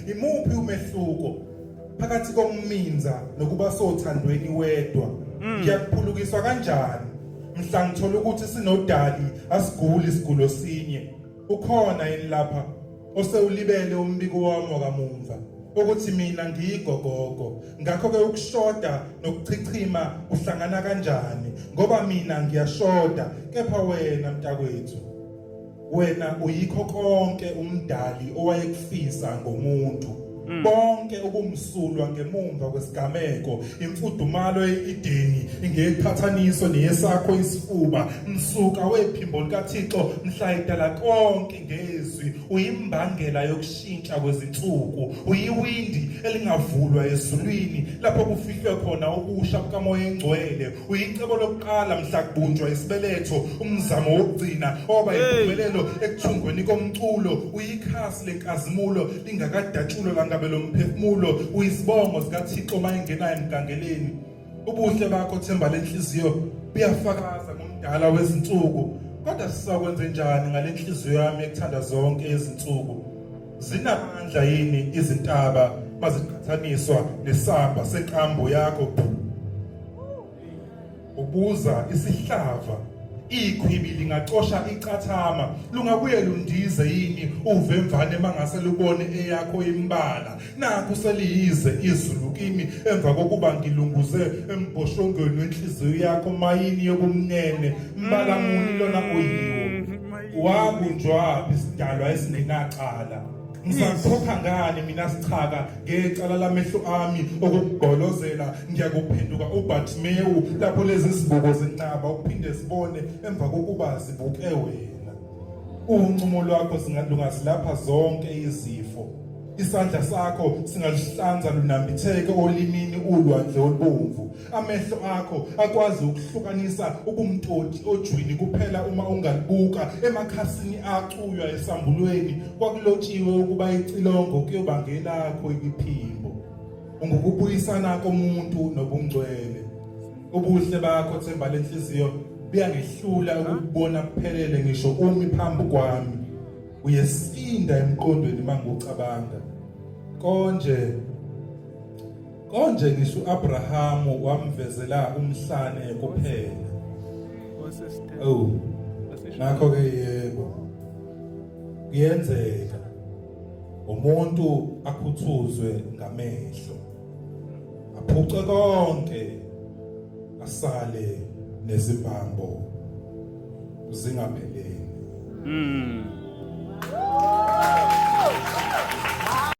Imuphi umehluko phakathi kokuminza nokuba sothandweni wedwa? Mm. Ngiyakuphulukiswa kanjani mhla ngithola ukuthi sinodali asiguli isigulo sinye? Ukhona yini lapha osewulibele umbiko wami wakamumva? ukuthi mina ngiyigogogo ngakho ke ukushoda nokuchichima kuhlangana kanjani ngoba mina ngiyashoda kepha wena mntakwethu wena uyikho konke umdali owayekufisa ngomuntu mm. bonke ubumsulwa ngemumva kwesigameko imfudumalo eideni ngeqhathaniso neyesakho isifuba msuka wephimbo likaThixo mhla idala konke ngezwi uyimbangela yokushintsha kwezinsuku uyiwindi elingavulwa ezulwini lapho kufihlwe khona ukusha bukamoya engcwele Uyicebo lokuqala mhla kubunjwa isibeletho umzamo wokugcina oba impumelelo ekuthungweni komculo uyikhasi lenkazimulo lingakadatshulwa langabe lomphefumulo uyisibongo sikaThixo mayengenayo emgangeleni ubuhle bakho themba lenhliziyo buyafakaza ngomdala wezinsuku kodwa sisakwenze njani ngalenhliziyo yami ekuthanda zonke izinsuku Zinamandla yini izintaba maziqhathaniswa nesamba seqambo yakho? Ubuza isihlava ikhwibi lingacosha icathama lungabuye lundize yini uvemvane mangase lubone eyakho imbala naku seliyize izulu kimi emva kokuba ngilunguze embhoshongweni wenhliziyo yakho mayini yobumnene mbala muni lona oyiwo Wabunjwa isidalwa esingenacala. Ngisakhokha ngani mina sichaka ngecala lamehlo ami okugolozela ngiyakuphenduka uBatmewu lapho lezi zibuko zinqaba ukuphinde sibone emva kokuba zibuke wena. Uncumo lwakho singalungasilapha zonke izifo. Isandla sakho singalihlanza lunambitheke olimini ulwandle olubomvu. Amehlo akho akwazi ukuhlukanisa ubumtoti ojwini kuphela uma ungalibuka emakhasini acuywa esambulweni kwakulotshiwe ukuba icilongo kuyoba ngelakho iphimbo ungukubuyisana komuntu nobungcwele ubuhle bakho themba lenhliziyo buyangehlula ukubona kuphelele ngisho umi phambi kwami uyesinda emqondweni mangucabanga konje Konje ngisho uAbrahamu wamvezela umhlane kuphela. Oh. Nakho ke yebo. Kuyenzeka umuntu akhuthuzwe ngamehlo. Aphuce konke asale nezibhambo zingaphelele. Mm.